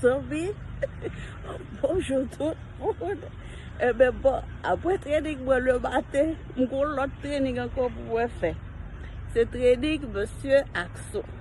Zanmi, bonjou tout moun. Ebe eh bon, apre trening mwen le maten, mwen kon lòt trening ankon pou mwen fè. Se trening monsye Akson.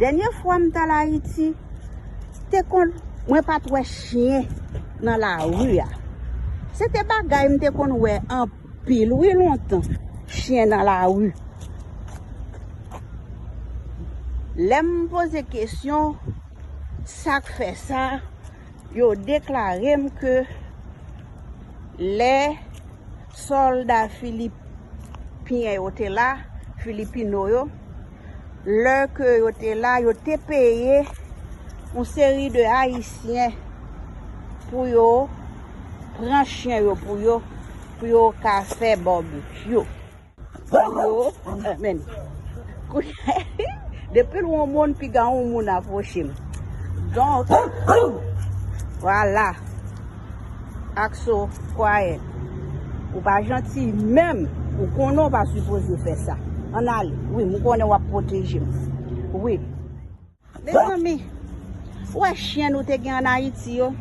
Dènye fwa m tal Ayiti, te konn mwen pat wè chyen nan lari a. Se te bagay m te konn wè anpil wi lontan, chyen nan lari. Lè m poze kesyon sa k fè sa, yo deklare m ke lè sòlda filipyen yo te la, filipino yo, lè ke yo te la, yo te peye yon seri de Ayisyen pou yo pran chyen yo pou yo, pou yo ka fè barbecue. Depi lwen yon moun, piga yon moun apwoche m. Donk, wala. ak so quiet ou pa janti menm ou konnen ou pa sipoze fè sa ann ale wi m konnen wap pwoteje m wi mezanmi ou wè chyen nou te gen an ayiti yo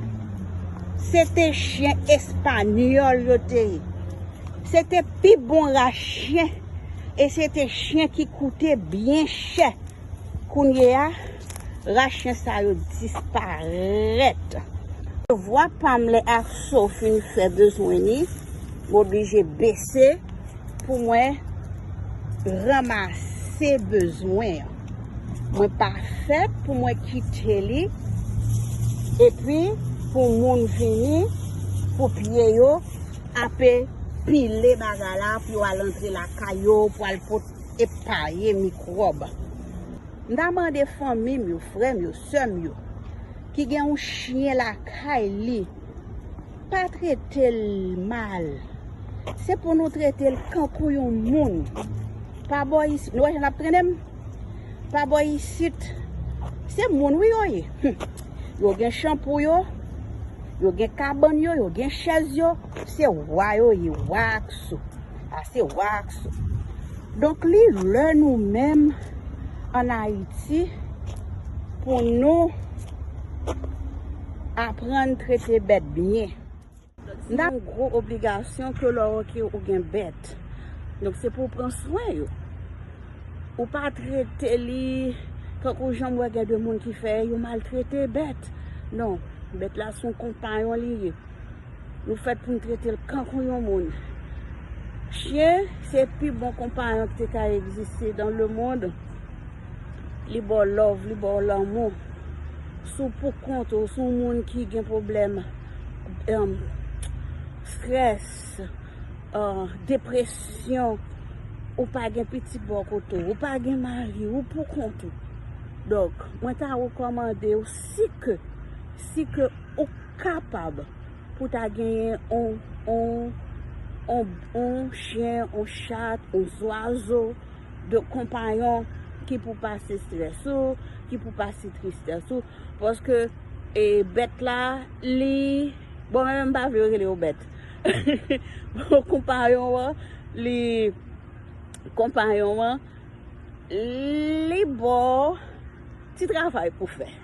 se te chyen espanyòl yo te ye se te pi bon ra chyen e se te chyen ki koute byen chè kounye a. Ras chen sa yo disparèt. Yo vwa pam lè Akso fin fè bezwen li m oblije bese pou mwen ranmase bezwen an. Mwen pa fèt pou mwen kite li epi pou moun vini pou pye yo ape pile bagay la pou yo al antre lakay yo pou al pot epaye mikwòb. M ta mande fanmi m yo, frè m yo, sè m yo, ki gen yon chyen lakay li, pa trete l mal. Se pou nou trete l kankou yon moun. Pa bo isit, nou wè jan l ap trennen m? Pa bo isit. Se moun wi yo ye. Yo gen chanpou yo, yo gen kabann yo, yo gen chèz yo. Se wa yo ye, wa ak sou. Ase wax. Donk li lè nou menm an Ayiti pou nou aprann trete bèt byen. N ap gwo obligasyon ke lè ok ou gen bèt. Donk se pou w pran swen yo. Ou pa trete li tankou jan m wè gen de moun ki fè yo maltrete bèt. Non, bèt la son konpayon li ye. Nou fèt pou n trete l kankou yon moun. Chyen se pi bon konpayon ki te ka egziste dan lemond. Li ba w love, li ba w lanmou. Si w pou kont ou, si w moun ki gen pwoblèm strès, depresyon, ou pa gen pitit bò kote w, ou pa gen mari, ou pou kont ou. Donk, mwen ta rekòmande w si ke, si ke. Ou kapab pou ta genyen on, on, on, on chyen, on chat, on zwazo de konpayon ki pou pase strès ou, ki pou pase tristès ou. Paske e bèt la li, bon mwen menm m pa vle yo rele yo bèt. Bon konpayon an li, konpayon an li ba w ti travay pou fè.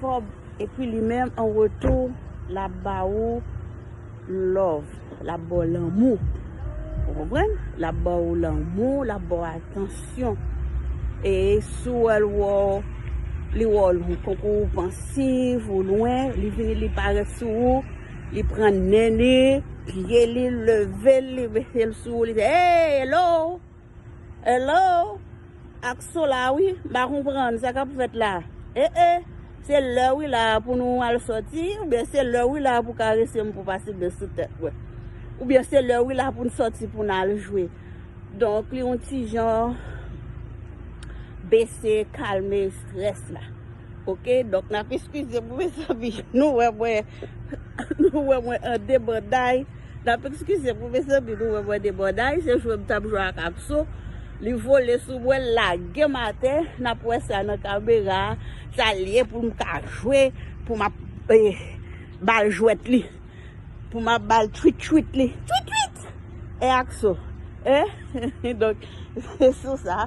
Kob epi li menm an retou lap ba ou love lap baw lanmou ou konprann lap ba ou lanmou lap ba ou atansyon e si w wè l li wè w tankou ou pansif ou lwen li vini li parèt sou ou li pran nen li pye li leve l li mete l sou ou li di eeyy hello. Hello ak sola wi m pa konprann sa kap fèt la eh eh se lè wi la pou nou al sòti oubyen se lè wi la pou karese m pou pase men sou tèt mwen oubyen se lè wi la pou n sòti pou n al jwe donk li yon ti jan bese kalme strès la ok donk nap eskize m mezanmi nou wè mwen nou wè mwen an debanday. Nap eskize pou mezanmi nou wè mwen debòday se jwe m tap jwe ak Akso li vole sou mwen l lagem atè nap wè sa nan kamera sa l ye pou m ka jwe pou map bal jwèt li pou map bal twit twit li twit twit eh Akso eh donk se sou sa.